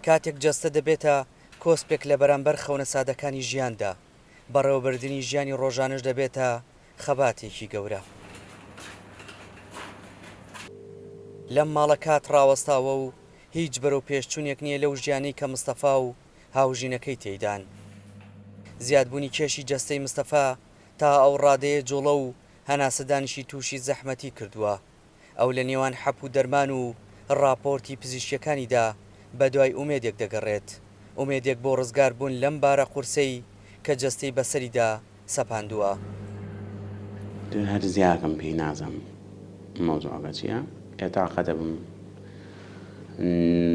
کاتێک جەستە دەبێتە کۆسپێک لە بەرامبەر خەونە سادەکانی ژیاندا، بەڕێوەبردنی ژیانی ڕۆژانەش دەبێتە خەباتێکی گەورە. لەم ماڵە کات ڕاوەستاوە و هیچ بەرەوپێشچوونێک نییە لەو ژیانەی کە مستەفا و هاوژینەکەی تێیدان. زیادبوونی کێشی جەستەی مستەفا تا ئەو ڕادەیە جووڵە و هەناسەدانیشی تووشی زەحمەتی کردووە، ئەو لە نێوان حەپ و دەرمان و ڕاپۆرتی پزیشکیەکانیدا بە دوای ئومێدێک دەگەڕێت، ئومێدێک بۆ ڕزگار بوون لەم بارە قورسەی کە جەستەی بەسەریدا سەپاندووە. تۆ هەر زیاکەم پێی نازەم مەوزوعەکە چیە ئێ تاقە دەبم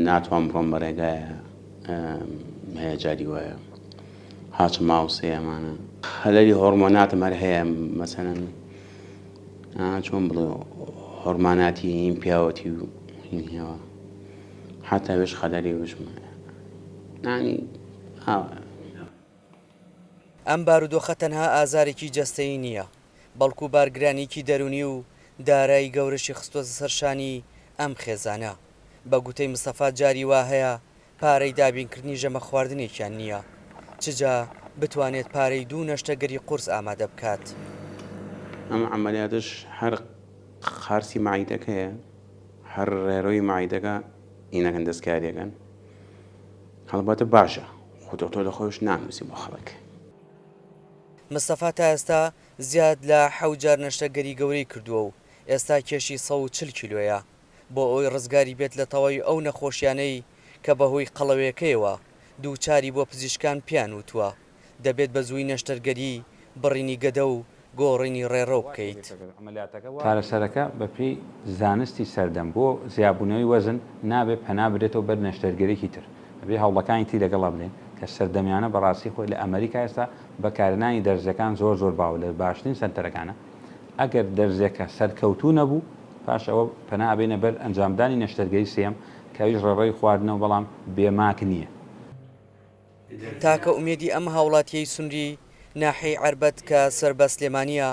ناتوان بڕۆم بە ڕێگایە هەیە جاری وایە هاچ ماوسێ ئەمانە خەلەلی هۆڕمۆناتم هەر هەیە مەسەلەن چۆن بڵێ حرماناتی این پیاوەتی و این هێوا حتا وێش خەدەری وشم نانی ئاوە. ئەم بارودۆخە تەنها ئازارێکی جەستەیی نییە، بەڵکو بارگرانییکی دەروونی و دارای گەورەشی خستووەتە سەر شانی ئەم خێزانە. بە گوتەی مستەفا جاری وا هەیە پارەی دابینکردنی ژەمە خواردنێکیان نییە، چ جا بتوانێت پارەی دوو نەشتەگەری قورس ئامادە بکات. ئەم عەمەلیاتەش هەر قارچی مەعیدەکەیە، هەر ڕێرۆی مەعیدەکە ئینەکەن دەستکارییەکەن. هەڵبەتە باشە، خۆ دۆکتۆر لە خۆیش نانووسی بۆ خەڵک. مستەفا تا ئێستا زیاد لە حەوت جار نەشتەگەری گەورەی کردووە و ئێستا کێشی سەد و چل کیلۆیە. بۆ ئەوەی ڕزگاری بێت لە تەواوی ئەو نەخۆشیانەی کە بە هۆی قەڵەوێکەیەوە دووچاری بووە پزیشکان پێیان وتووە دەبێت بە زووی نەشتەرگەری، بڕینی گەدە و گۆڕینی ڕێڕەو بکەیت. چارەسەرەکە بە پێی زانستی سەردەم بۆ زیابوونەوەی وەزن نابێت پەنا بدرێتەوە بەر نەشتەرگەریی تر، ئەبێ هەوڵەکانی تری لەگەڵا بدەین کە سەردەمیانە بە ڕاستی خۆی لە ئەمەریکا ئێستا بەکارهێنانی دەرزییەکان زۆر زۆر باوە لە باشترین سەنتەرەکانە، ئەگەر دەرزیەکە سەرکەوتوو نەبوو، پاش ئەوە پەنا ئەبەینە بەر ئەنجامدانی نەشتەرگەری سێیەم کە ئەویش ڕێڕەوی خواردنەو بەڵام بێ ماک نییە. تاکە ئومێدی ئەم هاوڵاتیەی سنوری ناحیەی عەربەت کە سەر بە سلێمانیە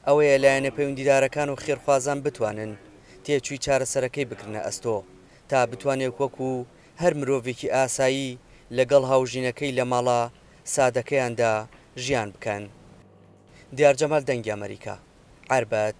ئەوەیە لایەنە پەیوندیدارەکان و خێرخوازان بتوانن تێچوی چارەسەرەکەی بگرنە ئەستۆ تا بتوانێک وەکو هەر مرۆڤێکی ئاسایی لە گەڵ هاوژینەکەی لە ماڵە سادەکەیاندا ژیان بکەن. دیار جەمال دەنگی ئەمەریکا. عەربەت.